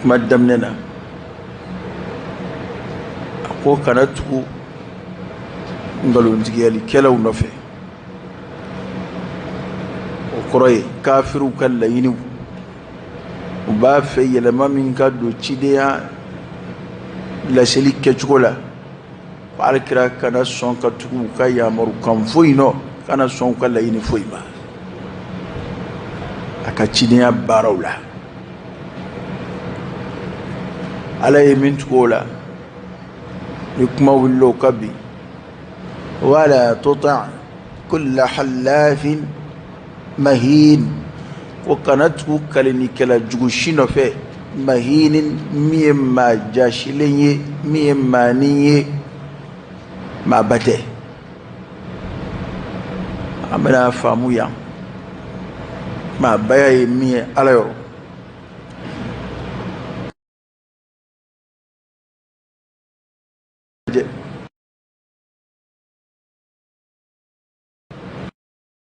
kuma daminɛ na a ko kana tugu nkalontigiyalikɛlaw nɔfɛ o kɔrɔ ye kafiriw ka laɲiniw u b'a fɛ yɛlɛma min ka don cidenya laseli kɛcogo la Ala kira kana sɔn ka tugu u ka yamarukan foyi nɔ kana sɔn u ka laɲini foyi ma a ka cidenya baaraw la ala ye min tugu o la ni kuma wili o ka bi wala tuti' kulla halafin mahin ko kana tugu kalinikɛla jugu si nɔfɛ mahin min ye maa jaasilen ye min ye maanin ye maaba tɛ an bɛna faamu yan maabaya ye min ye ala yɔrɔ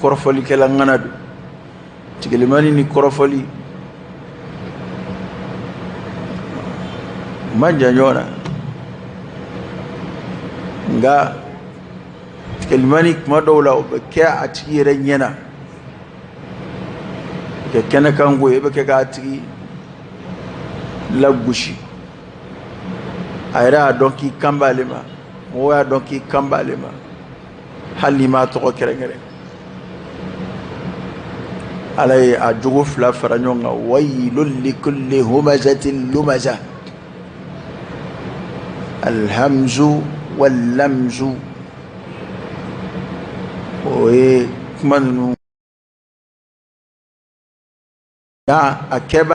kɔrɔfɔlikɛla ŋana don tigilimani ni kɔrɔfɔli man jan ɲɔgɔn na nka tigilimani kuma dɔw la o bɛ kɛ a tigi yɛrɛ ɲɛ na kɛ kɛnɛ kan ko ye e bɛ kɛ k'a tigi lagosi a yɛrɛ y'a dɔn k'i kan b'ale ma mɔgɔw y'a dɔn k'i kan b'ale ma hali n'i m'a tɔgɔ kɛrɛnkɛrɛn ala ye a jogo fila fara ɲɔgɔn kan wayilul likulli humazatin lumaza alhamzu wallamzu o ye kuma ninnu nka a kɛba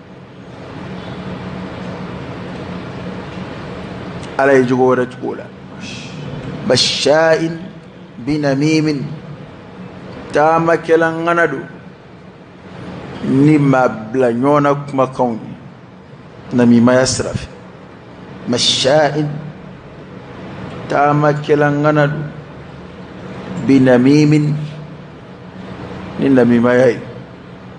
ala ye jogo wɛrɛ tugu o la mashain binamimin taamakɛla ŋana don ni maa bila ɲɔgɔn na kumakanw ye namimaya sira fɛ mashain taamakɛla ŋana don binamimin ni namimaya ye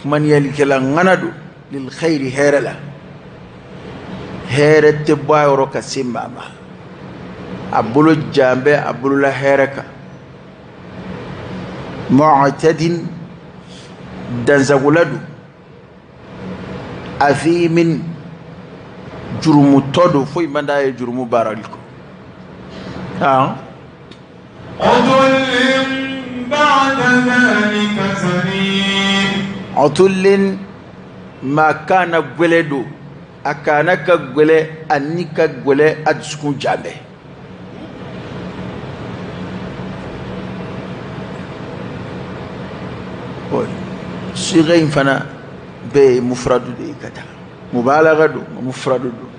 kumaniyalikɛla ŋana don lilxayiri hɛrɛ la hɛrɛ tɛ bɔ a yɔrɔ ka se maa ma a bolo jan bɛ a bolola hɛrɛ kan mu'tadin dansagola don athimin jurumutɔ don foyi man d'a ye jurumu baarali kɔ utulin maa kana gwɛlɛ don a kana ka gwɛlɛ a ni ka gwɛlɛ a dusukun jalen bɛ siga in fana bɛɛ ye mufuradu de ye ka taa mubalaga don mufuradu don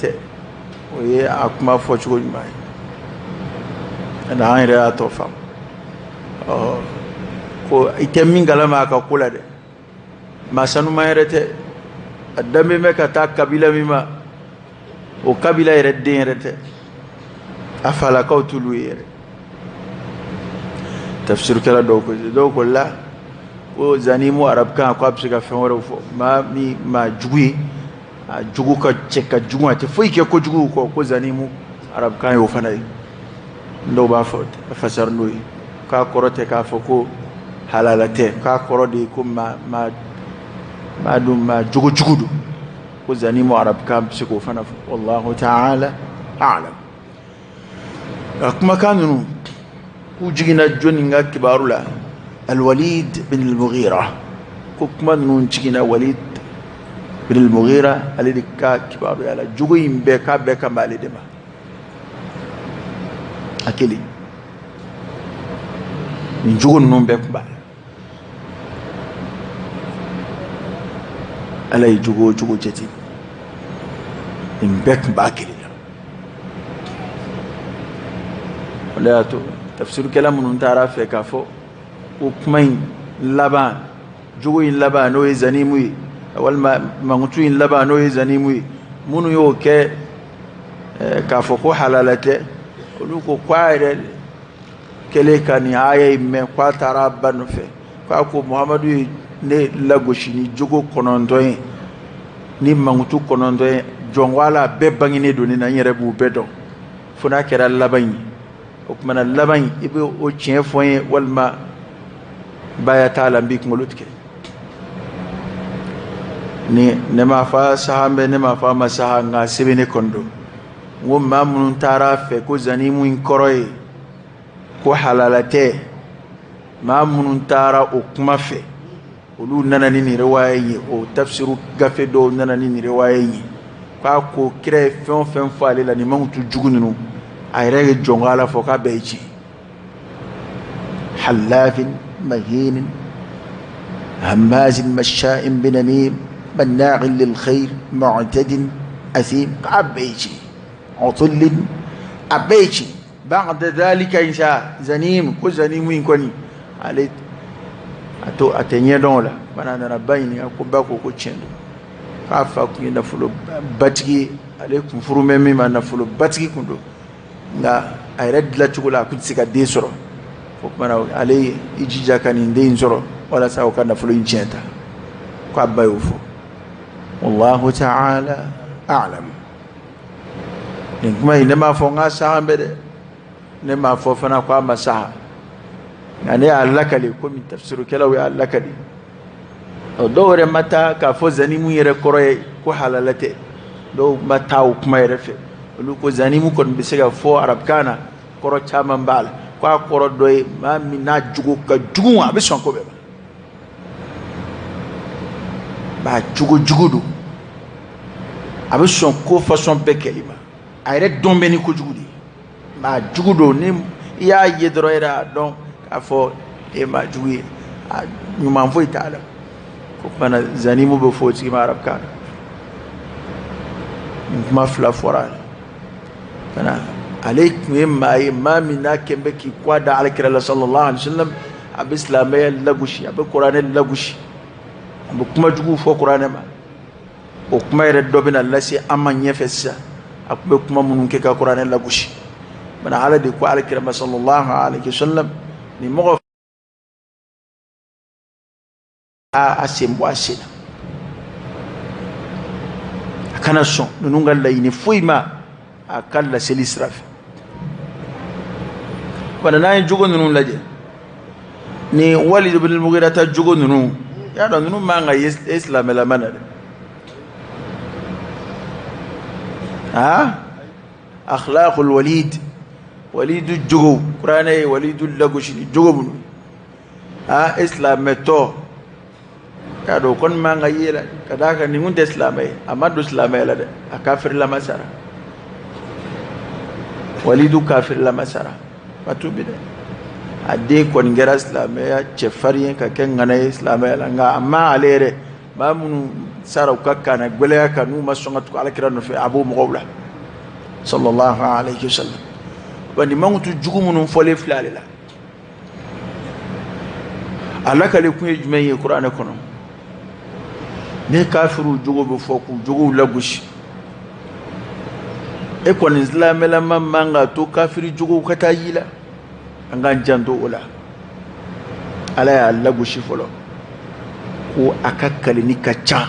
tɛ o ye a kuma fɔcogo ɲuman ye ani an yɛrɛ y'a tɔ faamu ɔ ko i tɛ min kalama a ka ko la dɛ maa sanuma yɛrɛ tɛ a danbe bɛ ka taa kabila min ma o kabila yɛrɛ den yɛrɛ tɛ a falakaw t'olu ye yɛrɛ tafsirikɛla dɔw ko dɔw ko la ko zanimu arabukan ko a bɛ se ka fɛn wɛrɛw fɔ maa min maa jugu ye a jogo ka cɛ ka jugu a tɛ foyi kɛ kojugu kɔ ko zanimu arabukan y'o fana ye dɔw b'a fɔ fasari n'o ye k'a kɔrɔ tɛ k'a fɔ ko halala tɛ k'a kɔrɔ de ye ko maa maa maa dun maa jogo jugu don ko zanimu arabukan bɛ se k'o fana fɔ wallahu ta'ala a'lam a kumakan ninnu k'u jiginna jɔni ka kibaru la alwalid bin al-mughira ko kuma ninnu jiginna walid bin al-mughira ale de ka kibaruya la jogo in bɛɛ k'a bɛɛ kan b'ale de ma a kelen nin jogo ninnu bɛɛ tun b'a la ala ye jogo o jogo jate nin bɛɛ tun b'a kelen na o de y'a to tafsirikɛla minnu taara a fɛ k'a fɔ ko kuma in laban jogo in laban n'o ye zanimu ye walima mankutu in laban n'o ye zanimu ye minnu y'o kɛ k'a fɔ ko halala tɛ olu ko k'a yɛrɛ kɛlen ka nin aya mɛn k'a taara a ba nɔfɛ k'a ko muhamadu ye ne lagosi ni jogo kɔnɔntɔn ye ni mankutu kɔnɔntɔn ye jɔnwala bɛɛ bangenen don n na n yɛrɛ b'u bɛɛ dɔn fo n'a kɛra laban in ye o tuma na laban in i bɛ o tiɲɛ fɔ n ye walima baya t'a la n b'i kunkolo tigɛ ni ne ma fa sahalen bɛ ne ma fa ma saha nka sɛbɛnni kɔnɔ don n ko maa minnu taara a fɛ ko zanimu in kɔrɔ ye ko halala tɛ maa minnu taara o kuma fɛ olu nana ni nin riwaya ye o tafsiru gafe dɔw nana ni nin riwaya ye k'a ko kira ye fɛn o fɛn fɔ ale la nin mankutu jugu ninnu a yɛrɛ ye jɔnko ala fɔ k'a bɛɛ ye tiɲɛ hallafin mahinin hammazin masha'in binamim manna'in lil khair mu'tadin asim k'a bɛɛ ye tiɲɛ utullin a bɛɛ tiɲɛ ba'da zalika sisan zanim ko zanimu in kɔni ale ko a t'a ɲɛ dɔn o la bana nan'a ba ɲininka ko ba ko ko tiɲɛ don k'a fa kun ye nafolo batigi ye ale kun furu bɛ min ma nafolo batigi kun don nka a yɛrɛ dilacogo la a kun tɛ se ka den sɔrɔ o kuma na ale ye i jija ka nin den in sɔrɔ walasa o ka nafolo in tiɲɛ ta ko a ba y'o fɔ wallahu ta'ala a'lam nin kuma in ne m'a fɔ k'a sahan bɛ dɛ ne m'a fɔ fana ko a ma saha nka ne y'a lakali komi tafsirukɛlaw y'a lakali ɔ dɔw yɛrɛ ma taa k'a fɔ zanimu yɛrɛ kɔrɔ ye ko halala tɛ dɔw ma taa o kuma yɛrɛ fɛ olu ko zanimu kɔni bɛ se ka fɔ arabukan na kɔrɔ caman b'a la ko a kɔrɔ dɔ ye maa min n'a jogo ka jugu a bɛ sɔn ko bɛɛ ma maa jogo jugu don a bɛ sɔn ko fasɔn bɛɛ kɛli ma a yɛrɛ dɔn bɛ ni kojugu de ye maa jugu don ni i y'a ye dɔrɔn yɛrɛ a dɔn k'a fɔ e maa jugu ye a ɲuman foyi t'a la o kuma na zanimu bɛ fɔ o tigi ma arabukan na nin kuma fila fɔra a la bana ale tun ye maa ye maa min n'a kɛn bɛ k'i kɔ da alakira la sallallahu alaihi wa sallam a bɛ silamɛya lagosi a bɛ kuranɛ lagosi a bɛ kuma juguw fɔ kuranɛ ma o kuma yɛrɛ dɔ bɛna lase an ma ɲɛfɛ sisan a tun bɛ kuma minnu kɛ ka kuranɛ lagosi bana ala de ko alakira ma sallallahu alaihi wa sallam nin mɔgɔ a sen bɔ a sen na a kana sɔn ninnu ka laɲini foyi ma a ka laseli sira fɛ bana n'an ye jogo ninnu lajɛ ni walidu ibn al-mughira ta jogo ninnu i y'a dɔn ninnu man ka ye silamɛlama na dɛ aa akhlaqul walid walidu jogo kuranɛ ye walidu lagosi ni jogo minnu aa e silamɛtɔ y'a dɔn o kɔni man ka ye dɛ ka d'a kan nin kun tɛ silamɛ ye a ma don silamɛya la dɛ a kafirilama sara walidu kafirilama sara a tuubi dɛ a den kɔni kɛra silamɛya cɛfarin ye ka kɛ ŋana ye silamɛya la nka a ma ale yɛrɛ maa minnu sara u ka kannagɛlɛya kan n'u ma sɔn ka tugu ala kira nɔfɛ a b'o mɔgɔw la sallallahu alayhi wa sallam wa nin mankutu jugu minnu fɔlen filɛ ale la a lakali kun ye jumɛn ye kuranɛ kɔnɔ ni kafiriw jogo bɛ fɔ k'u jogow lagosi e kɔni silamɛlama man k'a to kafiri jogow ka taa y'i la an k'an janto o la ala y'a lagosi fɔlɔ ko a ka kalenni ka ca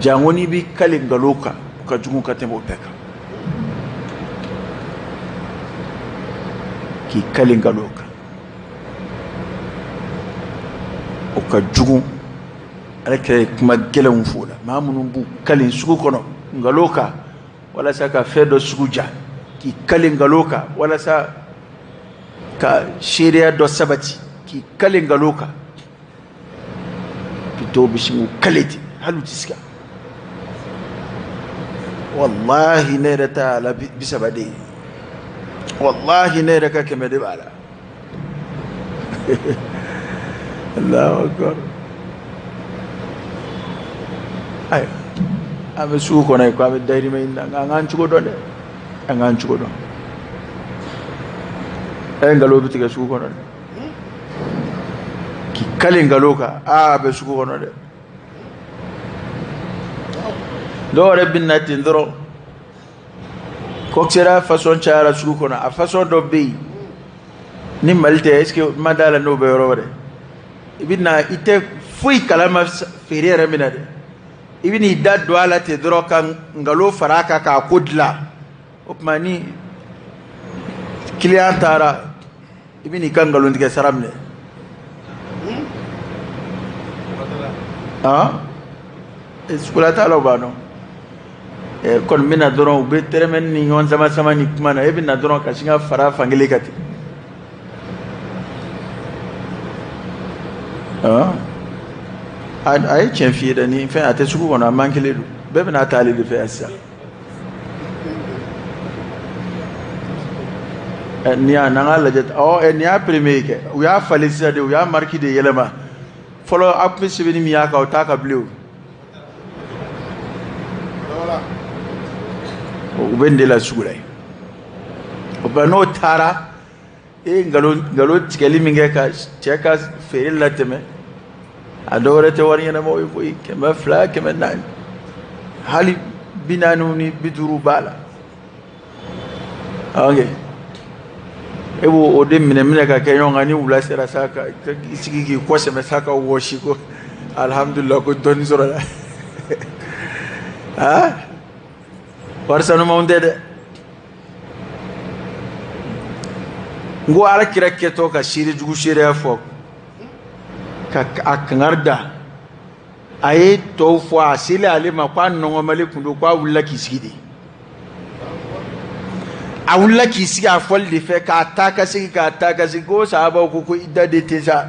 janko n'i b'i kale nkalon kan o ka jugu ka tɛmɛ o bɛɛ kan k'i kale nkalon kan o ka jugu ala kira ye kuma gɛlɛnw fɔ o la maa minnu b'u kale sugu kɔnɔ nkalon kan walasa ka fɛn dɔ sugu diya k'i kale nkalon kan walasa ka seereya dɔ sabati k'i kale nkalon kan bi dɔw bɛ sin k'u kale ten hali u tɛ siga walahi ne yɛrɛ ta a la bi saba de ye walahi ne yɛrɛ ka kɛmɛ de b'a la Allahu akbar ayiwa an bɛ sugu kɔnɔ yen ko an bɛ dayirimɛ ɲini na nka an k'an cogo dɔn dɛ an k'an cogo dɔn ɛ nkalon bɛ tigɛ sugu kɔnɔ dɛ k'i kale nkalon kan aa a bɛ sugu kɔnɔ dɛ dɔw yɛrɛ bɛ na ten dɔrɔn kɔkisɛrɛya fasɔn cayara sugu kɔnɔ a fasɔn dɔ bɛ yen ni mali tɛ est ce que ne ma d'a la n'o bɛ yɔrɔ wɛrɛ i bɛ na i tɛ foyi kalama feere yɛrɛ min na dɛ i bɛ n'i da don a la ten dɔrɔn ka nkalon fara a kan k'a ko dilan o tuma ni kiliyan taara i bɛ n'i ka nkalontigɛ sara minɛ han sugula taalaw b'a dɔn ɛ kɔni bɛ na dɔrɔn u bɛ tɛrɛmɛni ni ɲɔgɔn sama sama ni kuma na e bɛ na dɔrɔn ka sin ka fara fan kelen kan ten han a ye tiɲɛ f'i ye dɛ nin fɛn a tɛ sugu kɔnɔ a man kelen don bɛɛ bɛna a ta ale de fɛ yan sisan. Nin y'a n'an k'a lajɛ ɔ nin y'a peremiye kɛ u y'a falen sisan de u y'a mariki de yɛlɛma fɔlɔ a tun bɛ sɛbɛnni min y'a kan o t'a kan bilen u bɛ nin de la sugu la yen o n'o taara e ye nkalon tigɛli min kɛ ka cɛ ka feere latɛmɛ a dɔw yɛrɛ tɛ wari ɲɛnamaw ye koyi kɛmɛ fila kɛmɛ naani hali bi naaniw ni bi duuru b'a la ok e b'o o de minɛ minɛ ka kɛ ɲɔgɔn kan ni wula sera sa k'i sigi k'i kɔ sɛmɛ sa ka wɔsi ko alihamudulila ko dɔɔni sɔrɔla aa wari sanumanw tɛ dɛ n ko ala kira kɛtɔ ka seere jugu seereya fɔ ka a kangari da a ye tɔw fɔ a selen ale ma k'a nɔngɔnmalen kun don k'a wulila k'i sigi de a wulila k'i sigi a fɔli de fɛ k'a taa ka segin k'a taa ka segin ko sahaba ko ko i da de ten sa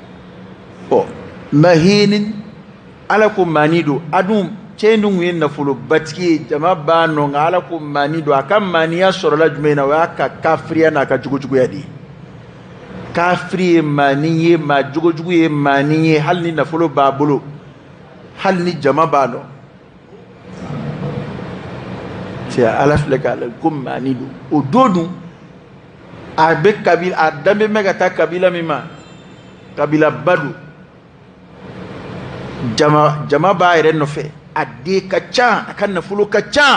ɔ mahinin ala ko maani don a dun cɛ in dun tun ye nafolobatigi ye jama b'a nɔ nka ala ko maani don a ka maaniya sɔrɔla jumɛn na o y'a ka kafiriya n'a ka jogojuguya de ye kafiri ye maani ye maa jogojugu ye maani ye hali ni nafolo b'a bolo hali ni jama b'a nɔ cɛ ala filɛ k'a lajɛ ko maani don o don dun a bɛ kabila a danbe bɛ ka taa kabila min ma kabilaba don jama b'a yɛrɛ nɔfɛ a den ka ca a ka nafolo ka ca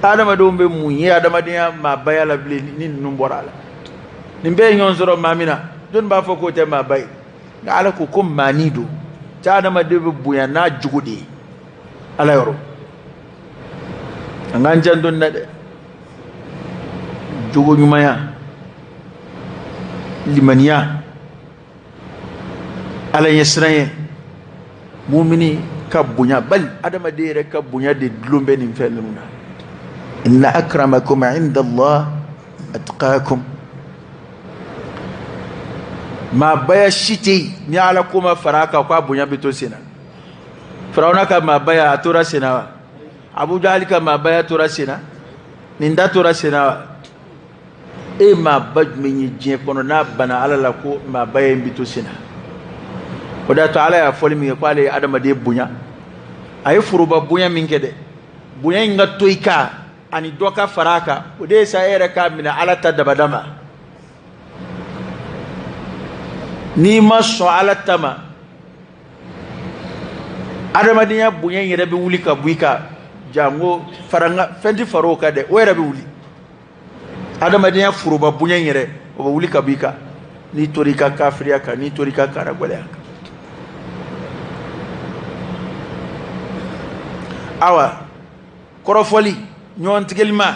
adamadenw bɛ mun ye adamadenya maabaya la bilen ni ninnu bɔra a la nin bɛɛ ye ɲɔgɔn sɔrɔ maa min na jɔni b'a fɔ k'o tɛ maaba ye nka ala ko ko maani don cɛ adamaden bɛ bonya n'a jogo de ye ala yɔrɔ an k'an janto nin na dɛ jogo ɲumanya limaniya ala ɲɛsiranɲɛ mumini ka bonya bal adamaden yɛrɛ ka bonya de dulon bɛ nin fɛn ninnu na inna akramakum inda allah atqakum maabaya si tɛ yen ni ala ko ma fara a kan ko a bonya bɛ to sen na firawuna ka maabaya a tora sen na wa abu jahali ka maabaya tora sen na nin ta tora sen na wa e maaba jumɛn ye diɲɛ kɔnɔ n'a bana ala la ko maabaya in bi to sen na o de y'a to ala y'a fɔli min kɛ k'ale ye adamaden bonya a ye foroba bonya min kɛ dɛ bonya in ka to i kan ani dɔ ka fara a kan o de ye sa e yɛrɛ k'a minɛ ala ta dabada ma n'i ma sɔn ala ta ma adamadenya bonya in yɛrɛ bɛ wuli ka bɔ i kan janko farankan fɛn tɛ fara o kan dɛ o yɛrɛ bɛ wuli adamadenya foroba bonya in yɛrɛ o bɛ wuli ka bɔ i kan n'i tora i ka kafiriya kan n'i tora i ka karagwɛlɛya kan awa kɔrɔfɔli ɲɔgɔn tigɛlima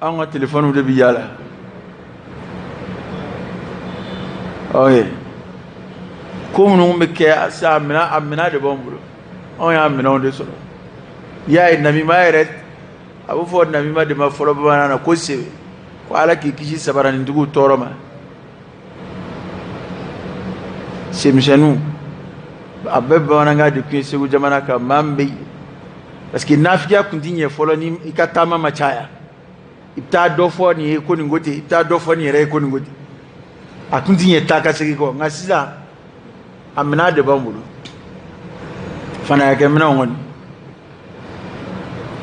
anw ka telefɔniw de bɛ yaala o ye ko minnu bɛ kɛ sa a minɛn de b'anw bolo anw y'a minɛnw de sɔrɔ i y'a ye namima yɛrɛ a bɛ fɔ namima de ma fɔlɔ bamanan na ko sewe ko ala k'i kisi sabaranintigiw tɔɔrɔ ma senmisɛnninw a bɛɛ bamanankan de tun ye segu jamana kan maa min bɛ parce que nafigiya tun ti ɲɛ fɔlɔ ni i ka taama ma caya i bɛ taa dɔ fɔ nin ye ko nin ko ten i bɛ taa dɔ fɔ nin yɛrɛ ye ko nin ko ten a tun ti ɲɛ taa ka segin kɔ nka sisan a minɛn de b'an bolo fanaya kɛ minɛnw kɔni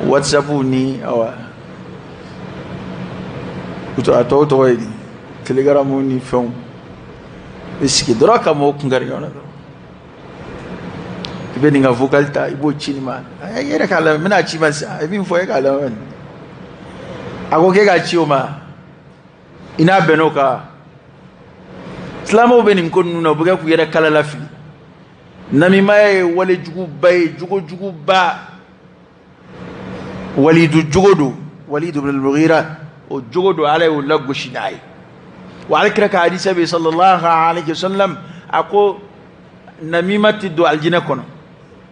whatsapp ni awa a tɔw tɔgɔ ye di telegram ni fɛnw i sigi dɔrɔn ka mɔgɔw kun kari ɲɔgɔn na dɔrɔn i bɛ nin ka vocal ta i b'o ci nin ma a i yɛrɛ k'a lamɛn n bɛn'a ci i ma sisan a ye min fɔ e k'a lamɛn a ko k'e k'a ci o ma i na bɛn o kan silamɛw bɛ nin ko ninnu na u bɛ kɛ k'u yɛrɛ kala lafili namimaya ye wale juguba ye jogo juguba walidu jogo don walidu bin almugira o jogo don ala y'o lagosi n'a ye wa ala kira ka hadisa bɛ sallallahu alaihi wasallam a ko namima tɛ don alijinɛ kɔnɔ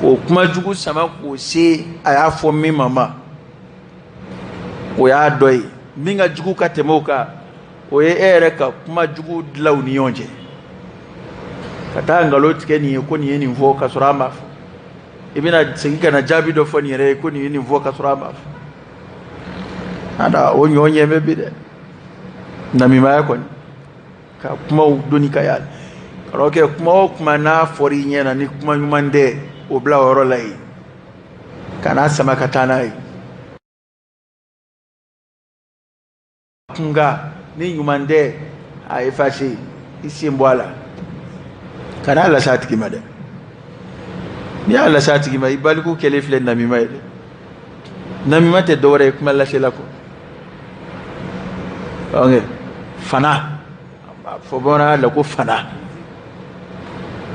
ko kuma jugu sama k'o se a y'a fɔ min ma ma o y'a dɔ ye min ka jugu ka tɛmɛ o kan o ye e yɛrɛ ka kuma jugu dilan u ni ɲɔgɔn cɛ ka taa nkalon tigɛ nin ye ko nin ye nin fɔ ka sɔrɔ a ma fɔ i bɛna segin ka na jaabi dɔ fɔ nin yɛrɛ ye ko nin ye nin fɔ ka sɔrɔ a ma fɔ ada o ɲɔ ɲɛ bɛ bi dɛ namimaya kɔni ka kumaw doni ka yaala ka rɔn kɛ kuma o kuma n'a fɔra i ɲɛ na ni kuma ɲuman tɛ o bila o yɔrɔ la yen kan'a sama ka taa n'a ye kumakan ni ɲuman tɛ a efase i sen bɔ a la kan'a lase a tigi ma dɛ n'i y'a lase a tigi ma i baliku kɛlen filɛ namima ye dɛ namima tɛ dɔwɛrɛ ye kuma lasela kɔ ok fana a b'a fɔ bamanankan la ko fanaya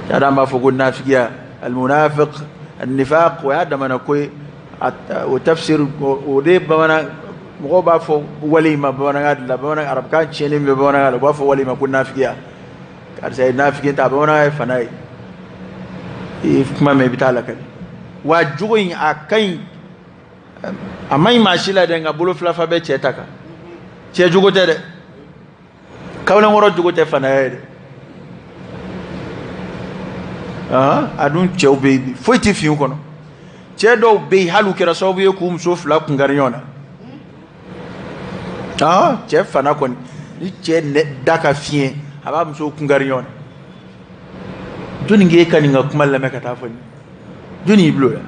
de an b'a fɔ ko nafigiya almunafiq annifaq o y'a damana ko ye o tafsir o de ye bamanan mɔgɔw b'a fɔ wale in ma bamanankan la bamanankan arabukan tiɲɛnen bɛ bamanankan la u b'a fɔ wale in ma ko nafigiya karisa ye nafiki ta bamanankan ye fana ye i kuma mɛn i bɛ t'a lakali wa jogo in a ka ɲi a man ɲi maa si la dɛ nka bolo filafa bɛ cɛ ta kan cɛ jogo tɛ dɛ kamalenkɔrɔ jogo tɛ fanaya ye dɛ a dun cɛw bɛ yen foyi tɛ fin kɔnɔ cɛ dɔw bɛ yen hali u kɛra sababu ye k'u muso fila kunkari ɲɔgɔn na cɛ fana kɔni ni cɛ da ka fiɲɛ a b'a muso kunkari ɲɔgɔn na jɔnni k'e ka nin ka kuma lamɛn ka t'a fɔ nin jɔnni y'i bil'o la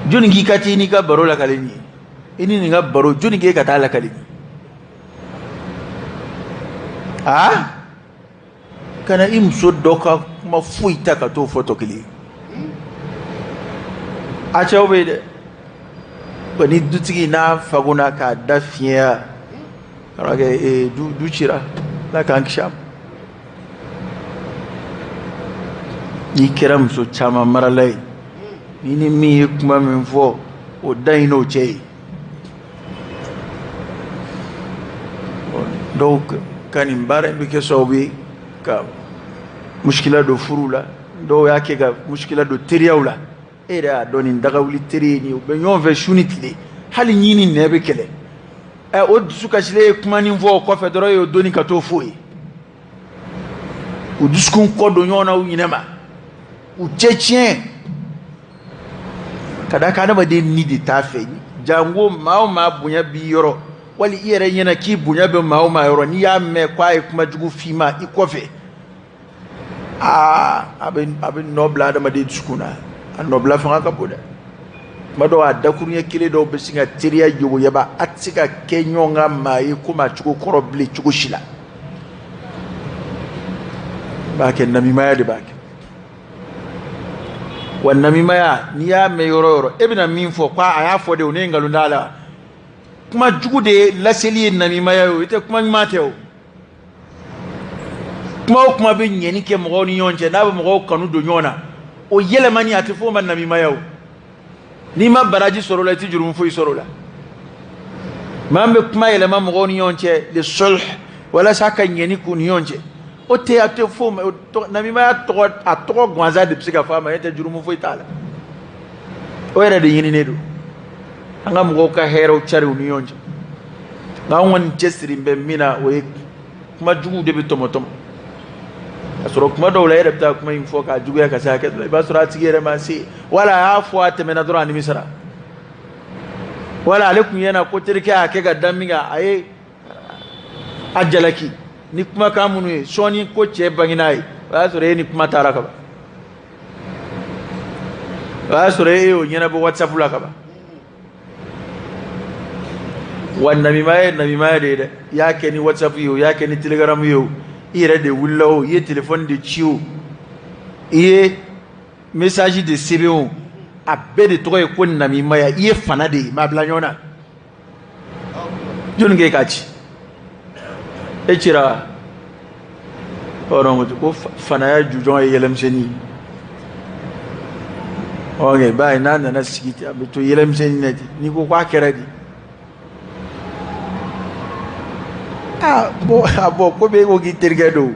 jɔnni k'i ka t'i ni nin ka baro lakali nin ye i ni nin ka baro jɔnni k'e ka t'a lakali nin ye aa kana i muso dɔ ka kuma foyi ta ka t'o fɔ tɔ kelen a cɛw bɛ yen dɛ wa ni dutigi n'a fagona k'a da fiɲɛyara kɛ ee du du cira ala k'an kisi a ma n'i kɛra muso caman marala ye n'i ni min ye kuma min fɔ o dan y'i n'o cɛ ye dɔw ka nin baara in bɛ kɛ sababu ye ka muskila don furuw la dɔw y'a kɛ ka muskila don teriyaw la e yɛrɛ y'a dɔn nin dagawuli teri ye nin ye u bɛ ɲɔgɔn fɛ su ni tile hali ɲin ni nɛn bɛ kɛlɛ ɛ o dusukasilen ye kumanin fɔ o kɔfɛ dɔrɔn e y'o doni ka t'o f'o ye u dusukun kɔ don ɲɔgɔn na u ɲɛnama u cɛ tiɲɛ ka d'a kan adamaden ni de t'a fɛ jango maa o maa bonya b'i yɔrɔ wali i yɛrɛ ɲɛna k'i bonya bɛ maa o maa yɔrɔ n'i y'a mɛn ko a ye kuma jugu f'i ma i kɔfɛ aa a bɛ a bɛ nɔ bila adamaden dusukun na a nɔbila fanga ka bon dɛ kuma dɔw a dakuruɲɛ kelen dɔw bɛ sin ka teriya yogoyaba a tɛ se ka kɛ ɲɔgɔn ka maa ye komi a cogo kɔrɔ bilen cogo si la b'a kɛ namimaya de b'a kɛ wa namimaya n'i y'a mɛn yɔrɔ o yɔrɔ e bɛna min fɔ ko a y'a fɔ de o ne nkalon t'a la kuma jugu de laseli ye namimaya ye o i tɛ kuma ɲuman tɛ o kuma o kuma bɛ ɲɛni kɛ mɔgɔw ni ɲɔgɔn cɛ n'a bɛ mɔgɔw kanu don ɲɔgɔn na o yɛlɛmani a tɛ f'o ma namimaya o n'i ma baraji sɔrɔ o la i tɛ jurumu foyi sɔrɔ o la maa min bɛ kuma yɛlɛma mɔgɔw ni ɲɔgɔn cɛ li sulh walasa ka ɲɛni k'u ni ɲɔgɔn cɛ o tɛ a tɛ f'o ma namima tɔgɔ gansan de bɛ se ka fɔ a ma e tɛ jurumu foyi t'a la o yɛrɛ de ɲininen don an ka mɔgɔw ka hɛrɛw cari u ni ɲɔgɔn cɛ nka anw kɔni cɛsiri bɛ min na o ye kuma juguw de bɛ tɔmɔtɔmɔ k'a sɔrɔ kuma dɔw la e yɛrɛ bɛ taa kuma in fɔ k'a juguya ka se hakɛ dɔ la i b'a sɔrɔ a tigi yɛrɛ ma se wala a y'a fɔ a tɛmɛna dɔrɔn a nimisara wala ale tun ɲɛna ko terikɛ y'a kɛ ka da min kan a ye a jalaki ni kumakan minnu ye sɔɔni ko cɛ bangen'a ye o y'a sɔrɔ e ni kuma taara kaban o y'a sɔrɔ e y'o ɲɛnabɔ whatsapp la kaban wa namima ye namima de ye dɛ i y'a kɛ ni whatsapp ye o i y'a kɛ ni telegram ye o i yɛrɛ de wulila o i ye telefɔni de ci o i ye message de sɛbɛn o a bɛɛ de tɔgɔ ye ko namimaya i ye fana de ye maa bila ɲɔgɔn na jɔnni k'e k'a ci e cira hɔrɔn ko fanaya jujɔn ye yɛlɛmisɛnnin ye ok i b'a ye n'a nana sigi ten a bɛ to yɛlɛmisɛnnin na ten n'i ko k'a kɛra di aa bon a bon ko bɛ e ko k'i terikɛ don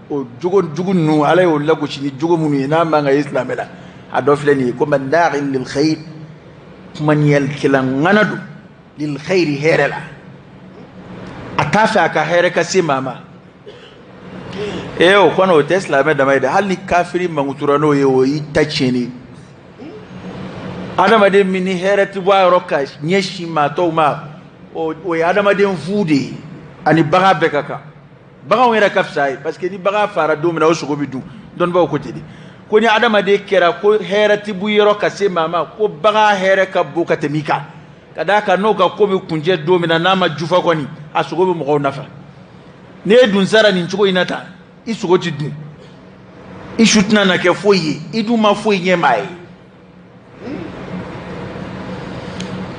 o jogo jugu ninnu ala y'o lagosi ni jogo minnu ye n'a man kan ka ye silamɛ la a dɔ filɛ nin ye ko manna'in lil khayr kumaniyalikɛla ŋana don lil khayri hɛrɛ la a t'a fɛ a ka hɛrɛ ka se maa ma ee o kɔni o tɛ silamɛ dama ye dɛ hali ni kafiri mankutura n'o ye o y'i ta tiɲɛni adamaden min ni hɛrɛ tɛ bɔ a yɔrɔ ka ɲɛsin maa tɔw ma o ye adamaden fu de ye ani bagan bɛɛ ka kan baganw yɛrɛ ka fisa ye parce que ni bagan faara don min na o sogo bɛ dun dɔnnibaaw ko ten de ko ni adamaden kɛra ko hɛrɛ ti bɔ i yɔrɔ ka se maa ma ko bagan hɛrɛ ka bon ka tɛmɛ i kan ka d'a kan n'o ka ko bɛ kuncɛ don min na n'a ma jufa kɔni a sogo bɛ mɔgɔw nafa ni e dun sara nin cogo in na tan i sogo ti dun i su tɛna na kɛ foyi ye i dun ma foyi ɲɛ maa ye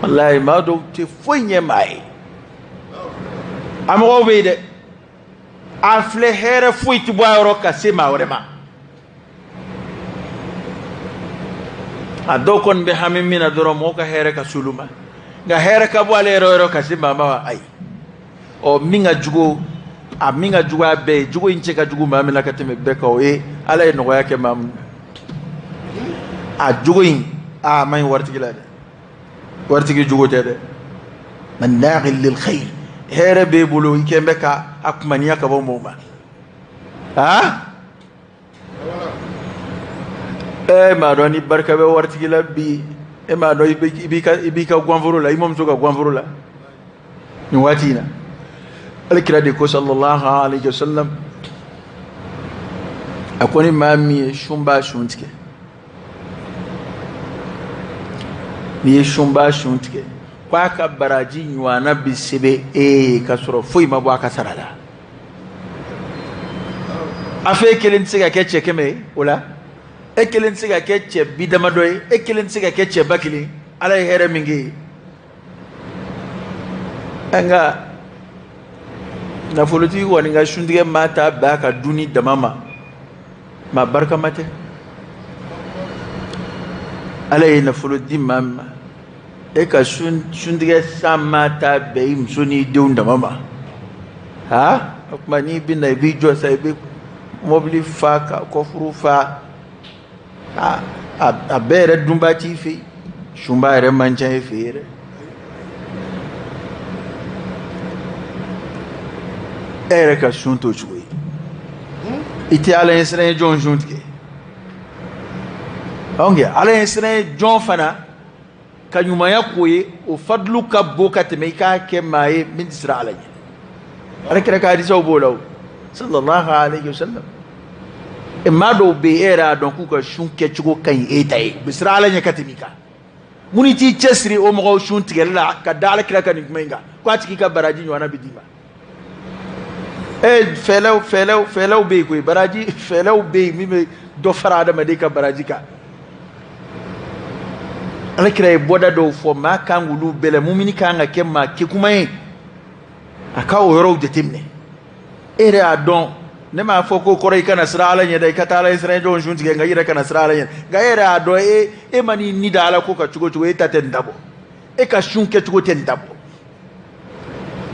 walayi maa dɔw tɛ foyi ɲɛ maa ye a mɔgɔw bɛ yen dɛ a filɛ hɛrɛ foyi tɛ bɔ a yɔrɔ ka se maa wɛrɛ ma a dɔw kɔni bɛ hami min na dɔrɔn mɔgɔw ka hɛrɛ ka s'olu ma nka hɛrɛ ka bɔ ale yɛrɛ yɔrɔ ka se maa ma wa ayi ɔ min ka jugu a min ka jugu a bɛɛ ye jogo in cɛ ka jugu maa min na ka tɛmɛ bɛɛ kan o ye ala ye nɔgɔya kɛ maa min na a jogo in a man ɲi waritigi la dɛ waritigi jogo tɛ dɛ manna'in lil khayr hɛrɛ b'e bolo i kɛn bɛ ka a kumaniya ka bɔ mɔgɔ ma a e m'a dɔn ni barika bɛ waritigi la bi e m'a dɔn i b'i ka i b'i ka guwanforo la i mamuso ka guwanforo la nin waati in na ala kira de ko sallallahu alayhi wa sallam a ko ni maa min ye sunba sun tigɛ n'i ye sunba sun tigɛ k'a ka baraji ɲɔgɔnna bi sɛbɛn e ye ka sɔrɔ foyi ma bɔ a ka sara la a fɛ e kelen tɛ se ka kɛ cɛ kɛmɛ ye o la e kelen tɛ se ka kɛ cɛ bi damadɔ ye e kelen tɛ se ka kɛ cɛ ba kelen ala ye hɛrɛ min k'e ye nka nafolotigi kɔni ka suntigɛ maa taa bɛn a ka dunni dama ma maa barikama tɛ ala ye nafolo di maa min ma e ka suntigɛ san maa taa bɛn i muso n'i denw dama ma ha o tuma n'i bɛ na i b'i jɔ sa i bɛ mɔbili fa ka kɔfuru fa a a bɛɛ yɛrɛ dunba t'i fɛ sunba yɛrɛ man ca e fɛ yɛrɛ e yɛrɛ ka sun t'o cogo ye i tɛ ala ɲɛ siran jɔn sun tigɛ anw kɛ ala ɲɛ siran jɔn fana ka ɲumanya k'o ye o fadlu ka bon ka tɛmɛ i k'a kɛ maa ye min tɛ siran ala ɲɛ ala kira ka hadisaw b'o la o sallallahu alayhi wa sallam e maa dɔw bɛ yen e yɛrɛ y'a dɔn k'u ka sun kɛcogo ka ɲi e ta ye u bɛ siran ala ɲɛ ka tɛmɛ i kan munna i t'i cɛsiri o mɔgɔw sun tigɛli la ka da ala kira ka nin kuma in kan k'a tigi ka baraji ɲɔgɔnna bɛ d'i ma ee fɛɛlɛw fɛɛlɛw fɛɛlɛw bɛ yen koyi baraji fɛɛlɛw bɛ yen min bɛ dɔ fara adamaden ka baraji kan ala kira ye bɔda dɔw fɔ maa kan k'olu bɛɛ la mumini kan ka kɛ maa kekuma ye a ka o yɔrɔw jateminɛ e yɛrɛ y'a dɔn ne m'a fɔ k'o kɔrɔ i kana siran ala ɲɛ dɛ i ka taa ala ɲɛ siran jɔnw sun tigɛ nka i yɛrɛ kana siran ala ɲɛ nka e yɛrɛ y'a dɔn e e man'i ni da ala ko kan cogo cogo e ta tɛ nin ta bɔ e ka sun kɛcogo tɛ nin ta bɔ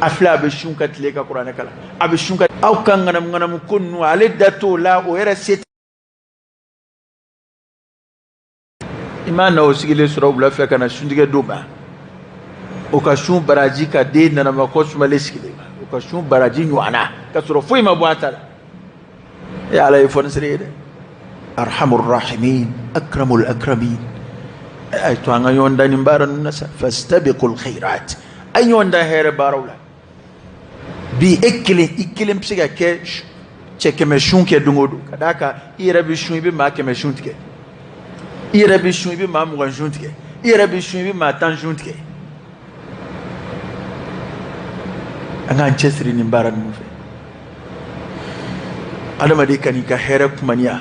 a filɛ a bɛ sun ka tile ka kuranɛ kalan a bɛ sun ka aw ka ŋanamu ŋanamu ko ninnu ale da t'o la o yɛrɛ se i maa na o sigilen sɔrɔ wula fɛ ka na suntigɛ d'o ma o ka sun baraji ka den nanama kɔ sumalen sigilen ma o ka sun baraji ɲɔgɔnna ka sɔrɔ foyi ma bɔ a ta la e ala ye fɔnisere ye dɛ arhamur rahimin akramul akramin e, a y'a to an ka ɲɔgɔn dan nin baara ninnu na sa fastabiqul khairat a ye ɲɔgɔn dan hɛrɛ baaraw la bi e kelen i kelen bɛ se ka kɛ cɛ kɛmɛ sun kɛ don o don ka d'a kan i yɛrɛ bɛ sun i bɛ maa kɛmɛ sun tigɛ i yɛrɛ bɛ sun i bɛ maa mugan sun tigɛ i yɛrɛ bɛ sun i bɛ maa tan sun tigɛ an k'an cɛsiri nin baara ninnu fɛ adamaden kan'i ka hɛrɛ kumaniya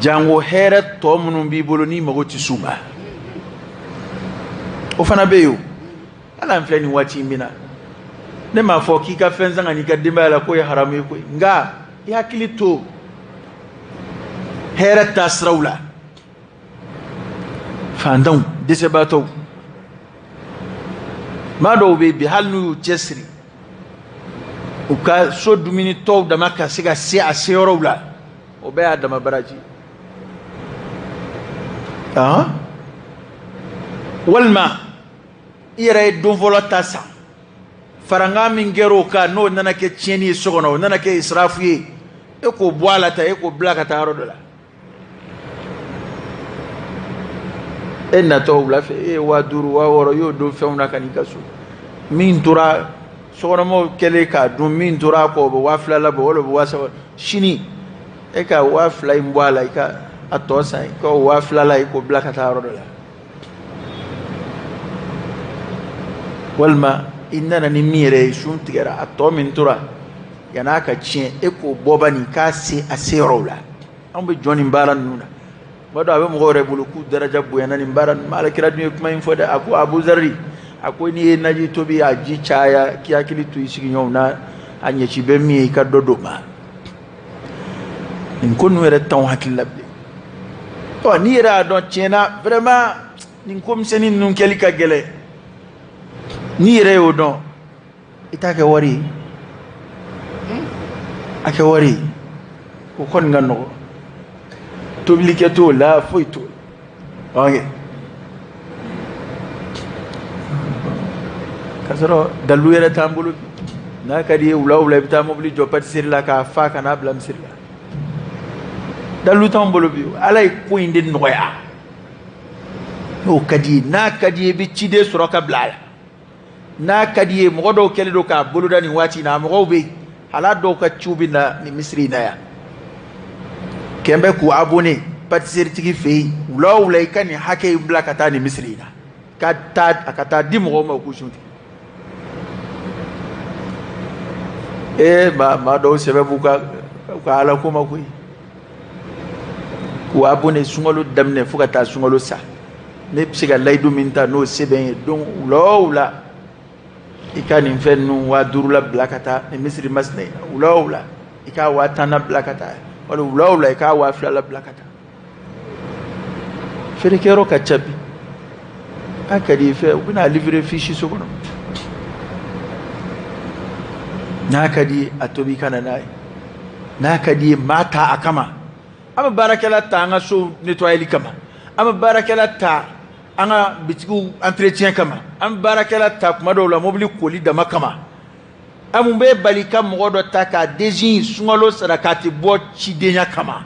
jango hɛrɛ tɔ minnu b'i bolo n'i mago tɛ s'u ma o fana bɛ yen o hali an filɛ nin waati in min na ne m'a fɔ k'i ka fɛn san ka n'i ka denbaya la k'o ye haramu ye koyi nka i hakili to hɛrɛ taasiraw la fantanw dɛsɛbaatɔw maa dɔw bɛ bi hali n'u y'u cɛsiri u ka so dumuni tɔw dama ka se ka se a seyɔrɔw la o bɛɛ y'a dama baraji ah? walima i yɛrɛ ye don fɔlɔ ta san farankan min kɛra o kan n'o nana kɛ tiɲɛni ye so kɔnɔ o nana kɛ israfu ye e k'o bɔ a la ta e k'o bila ka taa yɔrɔ dɔ la e natɔ wula fɛ e ye waa duuru waa wɔɔrɔ i y'o don fɛnw na ka n'i ka so min tora sokɔnɔmɔgɔw kɛlen k'a dun min tora a kɔ o bɛ waa fila labɔ wala o bɛ waa saba sini e ka waa fila in bɔ a la i ka a tɔ san i k'o waa filala i k'o bila ka taa yɔrɔ dɔ la walima i nana ni min yɛrɛ ye sun tigɛra a tɔ min tora yan'a ka tiɲɛ e k'o bɔ bani k'a se a seyɔrɔw la an bɛ jɔn nin baara ninnu na maa dɔw a bɛ mɔgɔw yɛrɛ bolo k'u daraja bonyana nin baara ninnu ma ala kira dun ye kuma in fɔ dɛ a ko abu zari a ko n'i ye naji tobi a ji caya k'i hakili to i sigiɲɔgɔnw na a ɲɛci bɛ min ye i ka dɔ d'o ma nin ko ninnu yɛrɛ t'anw hakili la bilen ɔ n'i yɛrɛ y'a dɔn tiɲɛna vraiment nin ko misɛnnin ninnu kɛli ka gɛlɛn n'i yɛrɛ y'o dɔn i t'a kɛ wari ye a kɛ wari ye o kɔni ka nɔgɔn tobilikɛ t'o la foyi t'o la oke k'a sɔrɔ dalilu yɛrɛ t'an bolo n'a ka d'i ye wula wula i bɛ taa mobili jɔ patiseri la k'a fa ka n'a bila misiri la dalilu t'an bolo bi ala ye ko in de nɔgɔya n'o ka d'i ye n'a ka d'i ye i bɛ ciden sɔrɔ ka bila a la n'a ka d'i ye mɔgɔ dɔw kɛlen don k'a boloda nin waati in na a mɔgɔw bɛ yen hala dɔw ka ciw bɛ na nin misiri in na yan kɛlen bɛ k'u abonné patiseritigi fɛ yen wula o wula i ka nin hakɛ in bila ka taa nin misiri in na ka taa a ka taa di mɔgɔw ma u k'u sun tigɛ ee maa maa dɔw sɛbɛ b'u ka u ka ala ko ma koyi k'u abonné sunkalo daminɛ fo ka taa sunkalo sa ne bɛ se ka layidu min ta n'o sɛbɛn ye don wula o wula i ka nin fɛn ninnu waa duurula bila ka taa nin misiri masina in na wula o wula i k'a waa tanna bila ka taa wali wula o wula i k'a waa filala bila ka taa feerekɛyɔrɔ ka ca bi a ka di i fɛ u bɛna a livrer f'i siso kɔnɔ n'a ka di ye a tobi ka na n'a ye n'a ka di ye maa ta a kama an bɛ baarakɛla ta an ka so nettoyali kama an bɛ baarakɛla ta an ka bitigiw entretien kama an bɛ baarakɛla ta kuma dɔw la mobili koli dama kama an mun bɛ bali ka mɔgɔ dɔ ta k'a désigner sunkalo sarakati bɔ cidenya kama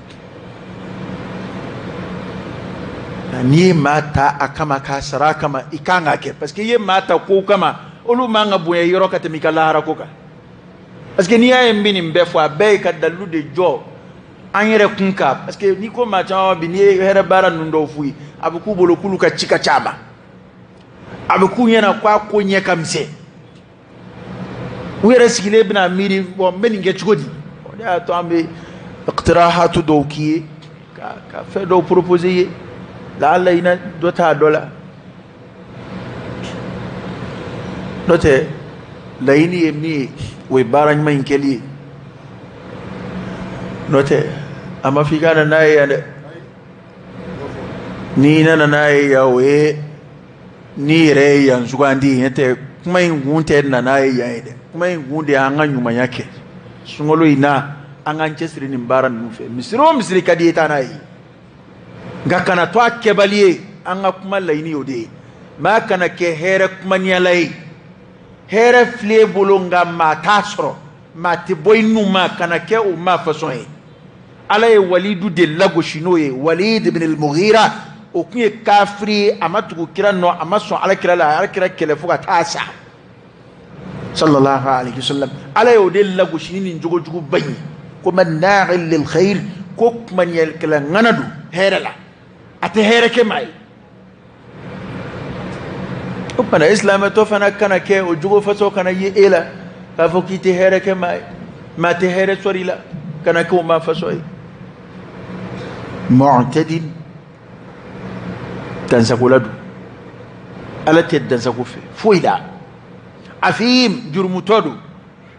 n'i ye maa ta a kama k'a sara a kama i kan k'a kɛ parce que i ye maa ta kow kama olu man ka bonya i yɔrɔ ka tɛmɛ i ka lahara ko kan parce que n'i y'a ye n bɛ nin bɛɛ fɔ a bɛɛ ye ka dalilu de jɔ an yɛrɛ kun kan parce que n'i ko maa caman bi n'i ye hɛrɛ baara ninnu dɔw f'u ye a bɛ k'u bolo k'olu ka ci ka ca a ma a bɛ k'u ɲɛna k'a ko ɲɛ ka misɛn u yɛrɛ sigilen bɛna miiri bon n bɛ nin kɛ cogo di o de y'a to an bɛ iqtirahatu dɔw k'i ye ka fɛn dɔw proposer i ye laala i na dɔ ta dɔ la n'o tɛ laɲini ye min ye o ye baara ɲuman in kɛli ye n'o tɛ a ma fɔ i ka na n'a ye yan dɛ n'i nana n'a ye yan o ye N'i yɛrɛ ye yan sugandi ye n'o tɛ kuma in kun tɛ na n'a ye yan ye dɛ kuma in kun de y'an ka ɲumanya kɛ sunkalo in na an k'an cɛsiri nin baara ninnu fɛ misiri o misiri ka di i ye taa n'a ye nka kana to a kɛbali ye an ka kuma laɲini o de ye maa kana kɛ hɛrɛ kumaniyala ye hɛrɛ filɛ i bolo nka maa t'a sɔrɔ maa tɛ bɔ i nu ma kana kɛ o maa fasɔn ye ala ye walidu de lagosi n'o ye walid ibn al-mughira o tun ye kafiri ye a ma tugu kira nɔ a ma sɔn ala kira la a y'ala kira kɛlɛ fo ka taa sa sallallahu alaihi wasallam ala ye o de lagosi ni nin jogo jugu ba in ye ko manna'in lil khair ko kumaniyɛlikɛla ŋana don hɛrɛ la a tɛ hɛrɛ kɛ maa ye o fana e silamɛtɔ fana kana kɛ o jogo fasɔn kana ye e la k'a fɔ k'i tɛ hɛrɛ kɛ maa ye maa tɛ hɛrɛ sɔrɔ i la kana kɛ o maa fasɔn ye mu'tadin dansagola don ala tɛ dansago fɛ foyi la athim jurumutɔ don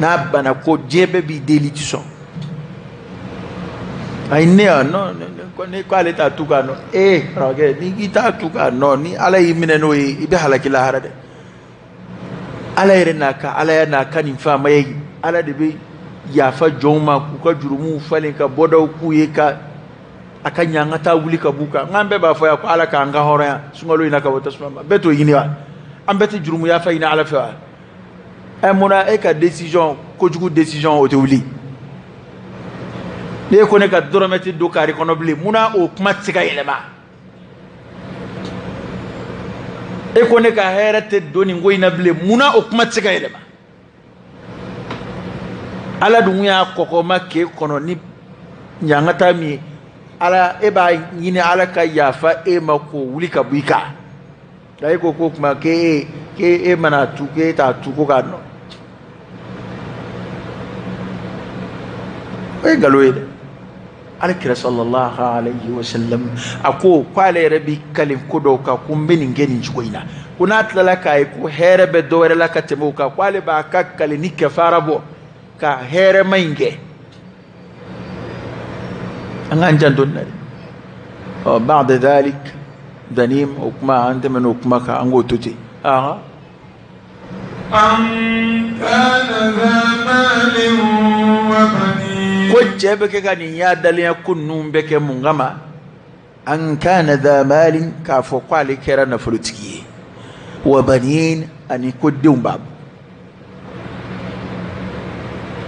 n'a bana ko diɲɛ bɛɛ b'i deli i ti sɔn ayi ne yan non ne ko ale t'a tu k'a nɔ ee karamɔgɔkɛ ni k'i t'a tu k'a nɔ ni ala y'i minɛ n'o ye i bɛ halaki lahara dɛ ala yɛrɛ n'a ka ala yɛrɛ n'a ka nin faamaya ala de bɛ yafa jɔnw ma k'u ka jurumuw falen ka bɔdaw k'u ye ka a ka ɲangata wuli ka b'u kan n k'an bɛɛ b'a fɔ yan ko ala k'an kan hɔrɔnya sunkalo in na ka bɔ tasuma ma bɛɛ t'o ɲini wa an bɛɛ tɛ jurumuyafa ɲini ala fɛ wa ɛ mun na e ka decision kojugu decision o tɛ wuli n'e ko ne ka dɔrɔmɛ tɛ don kaari kɔnɔ bilen mun na o kuma tɛ se ka yɛlɛma e ko ne ka hɛrɛ tɛ don nin ko in na bilen mun na o kuma tɛ se ka yɛlɛma ala dun y'a kɔkɔma k'e kɔnɔ ni ɲangata min ye ala e b'a ɲini ala ka yafa e ma k'o wuli ka bɔ i kan e ko ko kuma k'e e k'e e mana tu k'e t'a tu ko k'a nɔn o ye nkalon ye dɛ alakira sallallahu alayhi wa sallam a ko k'ale yɛrɛ bi kale ko dɔw kan ko n bɛ nin kɛ nin cogo in na ko n'a tilala k'a ye ko hɛrɛ bɛ dɔ wɛrɛ la ka tɛmɛ o kan k'ale b'a ka kalini kɛfara bɔ ka hɛrɛma in kɛ an k'an janto nin na dɛ ɔ ba'da dhalik zanim o kuma an tɛmɛna o kuma kan an k'o to ten aa ko cɛ bɛ kɛ ka nin yaadalenya ko ninnu bɛɛ kɛ mun kama an kana dha malin k'a fɔ ko ale kɛra nafolotigi ye wa banin ani ko denw b'a bolo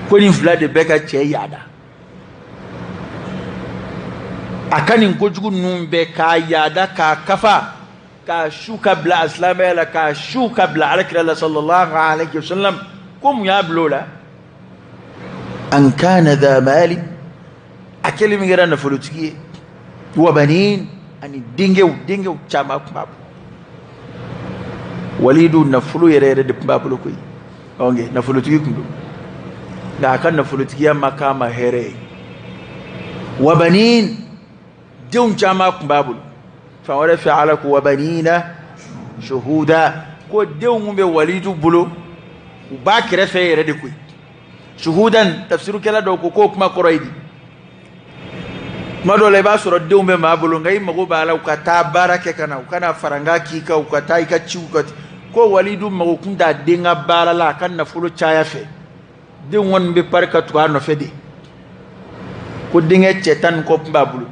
ko nin fila de bɛ ka cɛ yaada a ka nin kojugu ninnu bɛɛ k'a yaada k'a kafa k'a su ka bila a silamɛya la k'a su ka bila alakira la sallallahu alaihi wasallam ko mun y'a bila o la an kana dha malin a kɛlen min kɛra nafolotigi ye wabanin ani denkɛw denkɛw caman tun b'a bolo walidu nafolo yɛrɛ yɛrɛ de tun b'a bolo koyi ɔnke nafolotigi tun don nka a ka nafolotigiya ma k'a ma hɛrɛ ye wabanin denw caman tun b'a bolo fan wɛrɛ fɛ ala ko wabanina shuhuda ko denw min bɛ walidu bolo u b'a kɛrɛfɛ yɛrɛ de koyi shuhudan tafsirukɛla dɔw ko k'o kuma kɔrɔ ye di tuma dɔw la i b'a sɔrɔ denw bɛ maa bolo nka i mago b'a la u ka taa baara kɛ ka na u ka na farankan k'i kan u ka taa i ka ciw kɛ ko walidu mago kun t'a den ka baara la a ka nafolo caya fɛ den kɔni bɛ pari ka tugu a nɔfɛ de ko denkɛ cɛ tan ni kɔ tun b'a bolo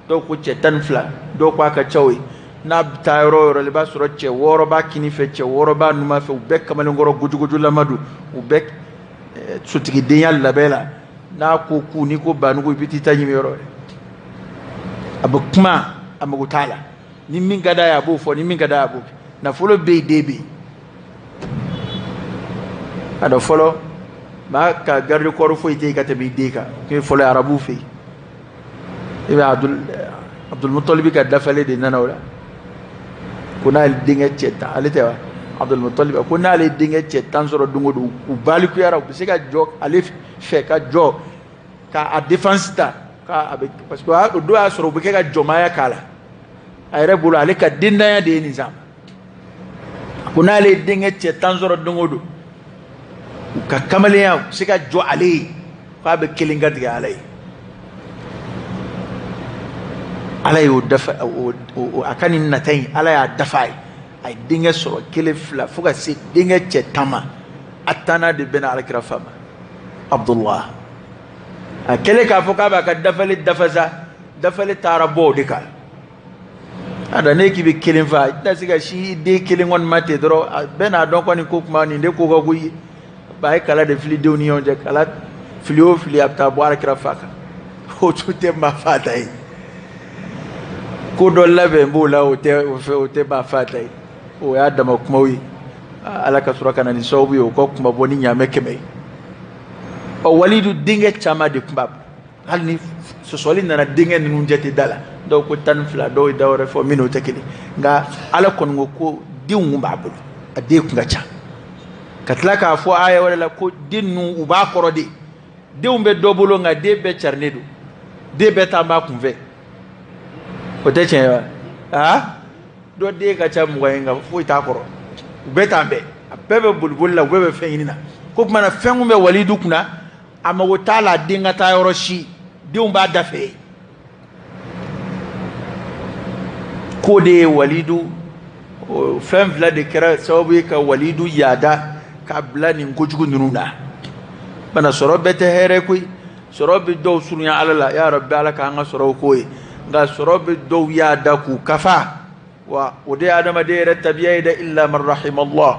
dɔw ko cɛ tan ni fila dɔw ko a ka ca o ye n'a bɛ taa yɔrɔ o yɔrɔ la i b'a sɔrɔ cɛ wɔɔrɔ b'a kini fɛ cɛ wɔɔrɔ b'a numan fɛ u bɛɛ kamalenkɔrɔ gojogojolama don u bɛɛ eh, sotigidenya labɛn la n'a ko k'u n'i ko banugu i bɛ t'i ta ɲimi yɔrɔ ye a bɛ kuma a mago t'a la ni min ka d'a ye a b'o fɔ ni min ka d'a ye a b'o kɛ nafolo bɛ yen den bɛ yen a dɔn fɔlɔ maa ka garde corps foyi tɛ yen ka tɛmɛ i den kan k'e fɔlɔ ye arabuw fɛ yen i bɛ abdul abdulmutalibi ka dafalen de nana o la ko n'ale denkɛ cɛ tan ale tɛ wa abdulmutalibi ko n'ale denkɛ cɛ tan sɔrɔ don o don u balikuyara u bɛ se ka jɔ ale fɛ ka jɔ ka a défense ta ka a bɛ parce que o don y'a sɔrɔ u bɛ kɛ ka jɔnmaya k'a la a yɛrɛ bolo ale ka denntanya de ye nin sa a ko n'ale ye denkɛ cɛ tan sɔrɔ don o don u ka kamalenya se ka jɔ ale ye k'a bɛ kelen kan tigɛ ala ye ala y'o dafa a ka nin nata in ala y'a dafa a ye a ye denkɛ sɔrɔ kelen fila fo ka se denkɛ cɛ tan ma a tannan de bɛnna alakira fa ma abdullah a kɛlen k'a fɔ k'a b'a ka dafali dafa sa dafali taara bɔ o de kan a da ne k'i bɛ kelen fa i tɛna se ka sin den kelen kɔni ma ten dɔrɔn a bɛn'a dɔn kɔni ko kuma nin de ko ka go ye ba ye kala de fili denw ni ɲɔgɔn cɛ kala fili o fili a bɛ taa bɔ alakira fa kan o tun tɛ maa fata ye ko dɔ labɛn b'o la o tɛ o fɛ o tɛ maa fata ye o y'a dama kumaw ye ala ka sɔrɔ ka na ni sababu ye o ka kunmabɔ ni ɲaamɛ kɛmɛ ye ɔ walidu denkɛ caman de tun b'a bolo hali ni sɔsɔli nana denkɛ ninnu jate da la dɔw ko tan ni fila dɔw ye da wɛrɛ fɔ min n'o tɛ kelen nka ala kɔni ko ko denw b'a bolo a den kun ka ca ka tila k'a fɔ aya wɛrɛ la ko den ninnu u b'a kɔrɔ de denw bɛ dɔ bolo nka den bɛɛ carilen don den bɛɛ taa b'a kunfɛ o tɛ tiɲɛ wa aa dɔ den ka ca mugan ye nka foyi t'a kɔrɔ u bɛɛ taa bɛɛ a bɛɛ bɛ boliboli la u bɛɛ bɛ fɛn ɲini na ko tuma na fɛn kun bɛ walidu kunna a mago t'a la den ka taa yɔrɔ si denw b'a da fɛ k'o de ye walidu fɛn fila de kɛra sababu ye ka walidu yaada ka bila nin kojugu ninnu na bana sɔrɔ bɛɛ tɛ hɛrɛ koyi sɔrɔ bɛ dɔw surunya ala la ya rabbi ala k'an ka sɔrɔw k'o ye nka sɔrɔ bɛ dɔw yaada k'u kafa wa o de ye adamaden yɛrɛ tabiya ye dɛ illa man rahimallah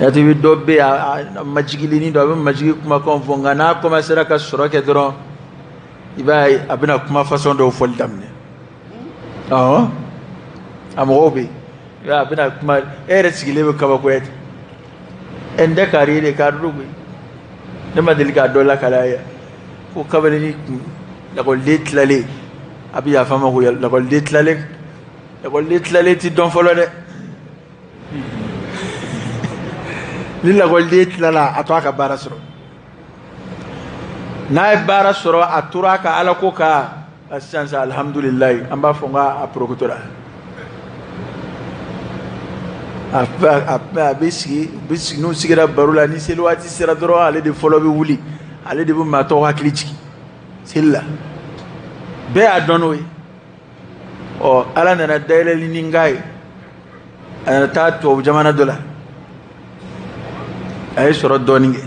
yati bi dɔ bɛ a majigilen don a bɛ majigi kumakan fɔ nka n'a kɔmansera ka sɔrɔ kɛ dɔrɔn i b'a ye a bɛna kuma fasɔn dɔw fɔli daminɛ ɔ a mɔgɔw bɛ yen a bɛna kuma e yɛrɛ sigilen bɛ kabakoya ten ɛ n tɛ kari de k'a dɔn koyi ne ma deli k'a dɔ lakal'a ye yan ko kabini ni kun lakɔliden tilalen a bɛ yafa n ma ko lakɔliden tilalen lakɔliden tilalen tɛ dɔn fɔlɔ dɛ ni lakɔliden tilala a to a ka baara sɔrɔ n'a ye baara sɔrɔ a tora a ka ala ko kan sisan sisan alihamudulilayi an b'a fɔ n k'a porokotora a bɛ sigi bɛ sigi n'u sigira baro la ni seli waati sera dɔrɔn ale de fɔlɔ bɛ wuli ale de bɛ maa tɔw hakili jigin seli la bɛɛ y'a dɔn n'o ye ɔ ala nana dayɛlɛli nin k'a ye a nana taa tubabu jamana dɔ la a ye sɔrɔ dɔɔnin kɛ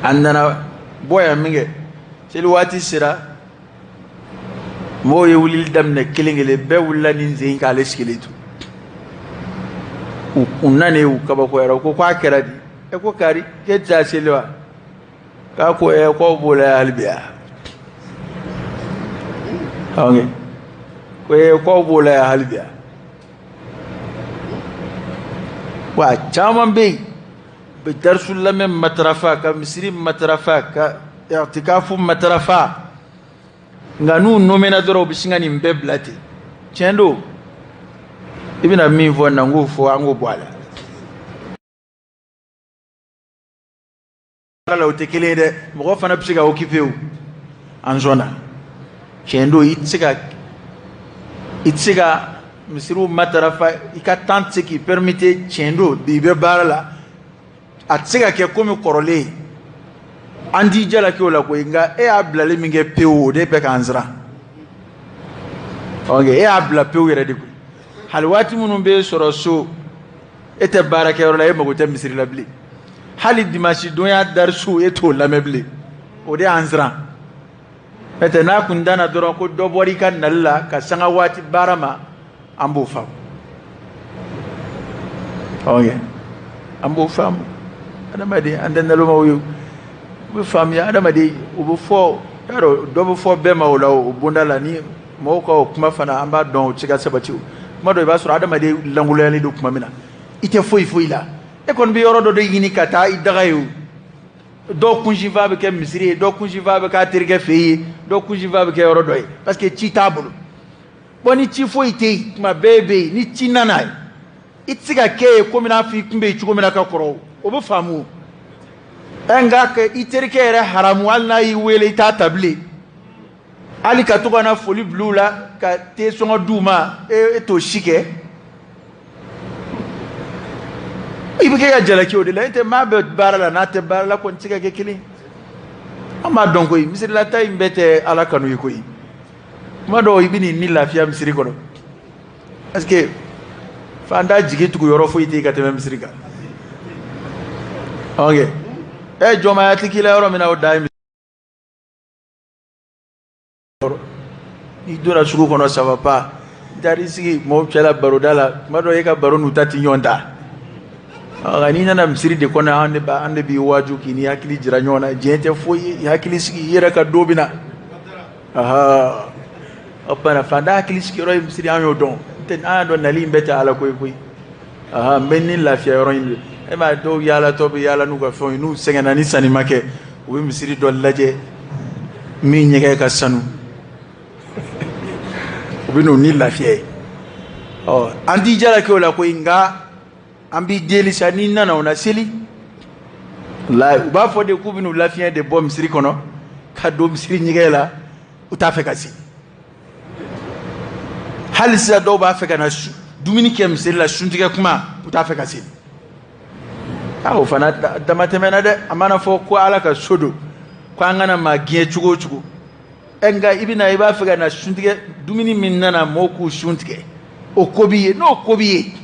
a nana bɔ yan min kɛ seli waati sera mɔgɔw ye wulili daminɛ kelen kelen bɛɛ wulila nin sen k'ale sigilen to u nanen u kabakoyara u ko k'a kɛra di e ko kari k'e tɛ taa seli wa k'a ko ɛ k'aw b'o la hali bi a awɔ ko ɛ k'aw b'o la hali bi a wa a caman bɛ yen u bɛ darisu lamɛn matarafa ka misiri matarafa ka itikafu matarafa nka n'u nomena dɔrɔn u bɛ sin ka nin bɛɛ bila ten tiɲɛ don i bɛna min fɔ na n k'o fɔ an k'o bɔ a la la o tɛ kelen ye dɛ mɔgɔ fana bɛ se ka okipe o an sɔnna tiɲɛ don i tɛ se ka misiriw matarafa i ka tan tɛ se k'i pɛrimete tiɲɛ don bi i bɛ baara la a tɛ se ka kɛ komi kɔrɔlen an t'i jalaki o la koyi nka e y'a bilali min kɛ pewu o de bɛ k'an siran ɔ e y'a bila pewu yɛrɛ de koyi hali waati minnu bɛ sɔrɔ so e tɛ baarakɛyɔrɔ la e mago tɛ misiri la bilen hali dimansi donya darisu e t'o lamɛn bilen o de y'an siran n'o tɛ n'a kun danna dɔrɔn ko dɔ bɔra i ka nali la ka sanga waati baara ma an b'o faamu ɔ ye an b'o faamu adamaden an tɛ nalomaw ye o bɛ faamuya adamaden o bɛ fɔ y'a dɔn dɔ bɛ fɔ bɛɛ ma o la o bonda la ni mɔgɔw ka o kuma fana an b'a dɔn o tɛ se ka sabati tuma dɔ i b'a sɔrɔ adamaden lankoloyalen don tuma min na i tɛ foyi foyi la e kɔni bɛ yɔrɔ dɔ de ɲini ka taa i daga yen o dɔw kunsifa bɛ kɛ misiri ye dɔw kunsifa bɛ k'a terikɛ fɛ ye dɔw kunsifa bɛ kɛ yɔrɔ dɔ ye parce que ci t'a bolo bon ni ci foyi tɛ yen tuma bɛɛ bɛ yen ni ci nana ye i tɛ se ka kɛ yen komi n'a fɔ i tun bɛ yen cogo min na ka kɔrɔ o bɛ faamu o ɛ nka k'i terikɛ yɛrɛ haramu hali n'a y'i wele i t'a ta bilen hali ka to ka na foli bila u la ka te sɔngɔ di u ma e, e t'o si kɛ i bɛ kɛ ka jalaki o de la n'o tɛ maa bɛ baara la n'a tɛ baara la kɔni tɛ se ka kɛ kelen ye an b'a dɔn koyi misirilataa in bɛɛ tɛ ala kanu ye koyi kuma dɔ i bɛ n'i ni lafiya misiri kɔnɔ parce que fantan jigituguyɔrɔ foyi tɛ yen ka tɛmɛ misiri kan ok ɛ jɔnmaya tɛ k'i la yɔrɔ min na o da ye n'i donna sugu kɔnɔ ça va pas n'i taara i sigi mɔgɔw cɛla baroda la tuma dɔ e ka baro n'u ta tɛ ɲɔgɔn ta nka n'i nana misiri de kɔnɔ an de b'a an de b'i waaju k'i n'i hakili jira ɲɔgɔn na diɲɛ tɛ foyi ye hakili sigi i yɛrɛ ka don bɛ na ahaa o tuma na fantan hakili sigiyɔrɔ ye misiri an y'o dɔn n'o tɛ an y'a dɔn nali in bɛɛ tɛ ala ko ye koyi aa n bɛ ni lafiya yɔrɔ ɲini de e m'a ye dɔw yaalatɔ bɛ yaala n'u ka fɛnw ye n'u sɛgɛnna ni sanni ma kɛ u bɛ misiri dɔ lajɛ min ɲɛgɛn ka sanu u bɛ n'u ni lafiya yen ɔ an t'i jalaki o la koyi nka an b'i deli sa n'i nana o na seli u b'a fɔ de k'u bɛn'u lafiɲɛ de bɔ misiri kɔnɔ ka don misiri ɲɛgɛn la u t'a fɛ ka seli hali sisan dɔw b'a fɛ ka na dumuni kɛ misiri la suntigɛ kuma u t'a fɛ ka seli a o fana damatɛmɛna dɛ a mana fɔ ko ala ka so don ko an kana maa gɛn cogo o cogo ɛ e nka i bɛna i b'a fɛ ka na suntigɛ dumuni min nana mɔgɔw k'u sun tigɛ o ko b'i ye n'o ko b'i ye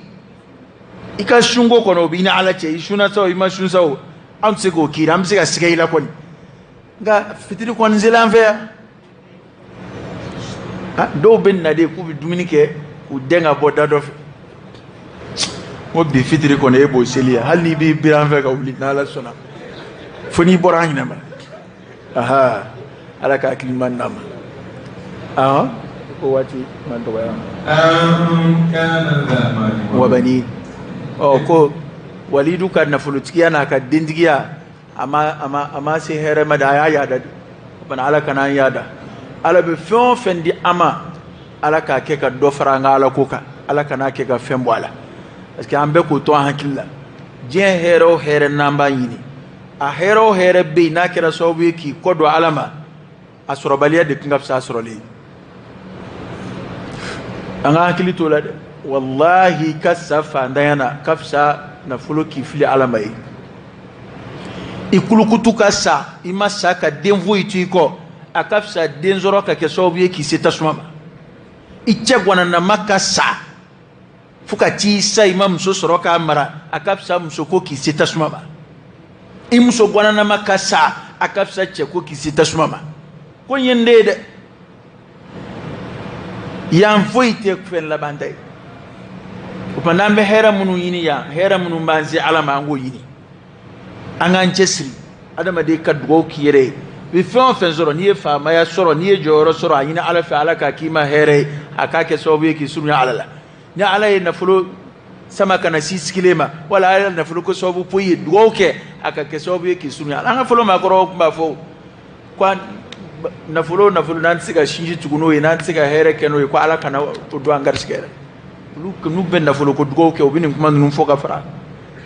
i ka sunko kɔnɔ o b'i ni ala cɛ i sunna sa o i ma sun sa o an bɛ se k'o k'i la an bɛ se ka siga i la kɔni nka fitiri kɔni selen an fɛ yan ah, dɔw bɛ na de k'u bɛ dumuni kɛ k'u dɛn ka bɔ da dɔ fɛ ko bi fitiri kɔni e b'o seli yan hali n'i b'i biri an fɛ ka wuli n'ala sɔnna fo n'i bɔra an ɲina ma aha ala ka hakili ɲuman d'an ma awɔ o waati ma dɔgɔya kana za malin wa banin ɔ ko walidu ka nafolotigiya n'a ka dentigiya a ma se hɛrɛ ma dɛ a y'a yaada de fana ala kana an yaada ala bɛ fɛn o fɛn di an ma ala k'a kɛ ka dɔ fara an ka ala ko kan ala kan'a kɛ ka fɛn bɔ a la parce que an bɛɛ k'o to an hakili la diɲɛ hɛrɛ o hɛrɛ n'an b'a ɲini a hɛrɛ o hɛrɛ bɛ yen n'a kɛra sababu ye k'i kɔ don ala ma a sɔrɔbaliya de tun ka fisa a sɔrɔlen ye an ka hakili t'o la dɛ walahi ka sa fantanya na ka fisa nafolo k'i fili ala ma ye i kulukutu ka sa i ma sa ka den foyi to i kɔ a ka fisa den sɔrɔ ka kɛ sababu ye k'i se tasuma ma i cɛgwananama ka sa fo ka t'i sa i ma muso sɔrɔ k'a mara a ka fisa muso ko k'i se tasuma ma i muso gwananama ka sa a ka fisa cɛ ko k'i se tasuma ma ko yen de ye dɛ yan foyi tɛ fɛn labanta ye o tuma n'an bɛ hɛrɛ minnu ɲini yan hɛrɛ minnu b'an se ala ma an k'o ɲini an k'an cɛsiri adamaden ka dugawu k'i yɛrɛ ye i bɛ fɛn o fɛn sɔrɔ n'i ye faamaya sɔrɔ n'i ye jɔyɔrɔ sɔrɔ a ɲini ala fɛ ala k'a k'i ma hɛrɛ ye a k'a kɛ sababu ye k'i surunya ala la ni ala ye nafolo sama ka na s'i sigilen ma wala ala ye nafolo ko sababu poyi i ye dugawu kɛ a ka kɛ sababu ye k'i surunya ala an ka fɔlɔ maakɔrɔw tun b'a fɔ ko nafolo nafolo n'an tɛ se ka sinji tugu n'o ye n'an tɛ se ka hɛrɛ kɛ n'o ye ko ala kana o don an garisigɛ rɔ olu n'u bɛ nafolo ko dugawu kɛ u bɛ nin kuma ninnu fɔ ka fara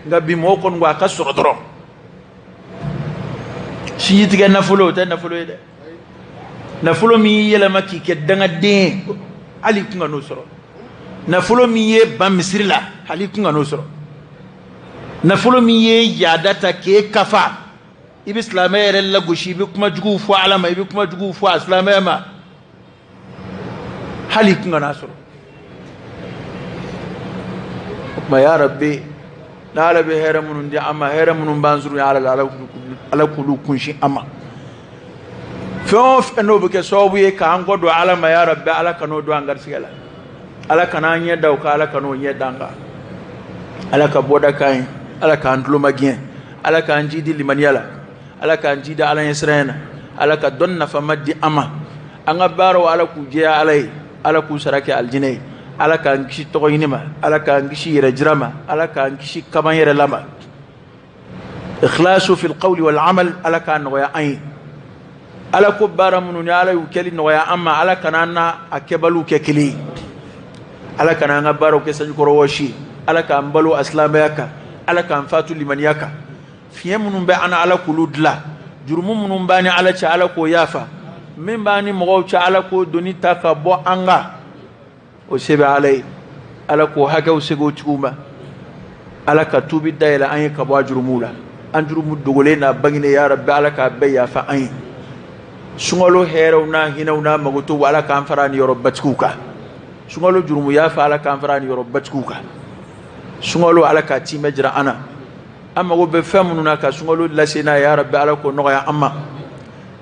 nka bi mɔgɔw kɔni ko a ka sɔrɔ dɔrɔn sinji tigɛ nafolo o tɛ nafolo ye dɛ nafolo min y'i yɛlɛma k'i kɛ dangaden hali i kun kan'o sɔrɔ nafolo min y'i ban misiri la hali i kun kan'o sɔrɔ nafolo min ye yaada ta k'e kafa i bɛ silamɛ yɛrɛ lagosi i bɛ kuma juguw fɔ ala ma i bɛ kuma juguw fɔ a silamɛ ma hali i kun kan'o sɔrɔ o tuma ya rabbi n'ala bɛ hɛrɛ minnu di an ma hɛrɛ minnu b'an surunya ala k'olu kunsin an ma fɛn o fɛn n'o bɛ kɛ sababu ye k'an kɔ don ala ma ya rabbi ala kan'o don an garisigɛ la ala kana an ɲɛ da o kan ala kan'o ɲɛ da an kan ala ka bɔda k'an ye ala k'an tulomagɛn ala k'an jidi limaniya la ala k'an jidi ala ɲɛsiran na ala ka dɔn nafama di an ma an ka baaraw ala k'u jɛya ala ye ala k'u sara kɛ alijinɛ ye ala k'an kisi tɔgɔ ɲini ma ala k'an kisi yɛrɛ jira ma ala k'an kisi kaba n yɛrɛ la ma ikhlasu fil qawli wal amal ala k'a nɔgɔya an ye ala ko baara minnu ni ala y'u kɛli nɔgɔya an ma ala kana an n'a kɛbaliw kɛ kelen ye ala kana an ka baaraw kɛ sanjikɔrɔ wɔsi ye ala k'an balo a silamɛya kan ala k'an faatu limaniya kan fiɲɛ minnu bɛ an na ala k'olu dilan jurumu minnu b'an ni ala cɛ ala k'o yafa min b'an ni mɔgɔw cɛ ala k'o doni ta ka bɔ an kan o se bɛ ala ye ala k'o hakɛw segin u tigiw ma ala ka tuubi da yɛlɛ an ye ka bɔ a jurumu la an jurumu dogolen n'a bangelen ya rabbi ala k'a bɛɛ yafa an ye sunkalo hɛrɛw n'a hinɛw n'a makoto ala k'an fara niyɔrɔbatigiw kan sunkalo jurumu yafa ala k'an fara niyɔrɔbatigiw kan sunkalo ala k'a tiimɛ jira an na an mago bɛ fɛn minnu na ka sunkalo lase n'a ye ya rabbi ala k'o nɔgɔya an ma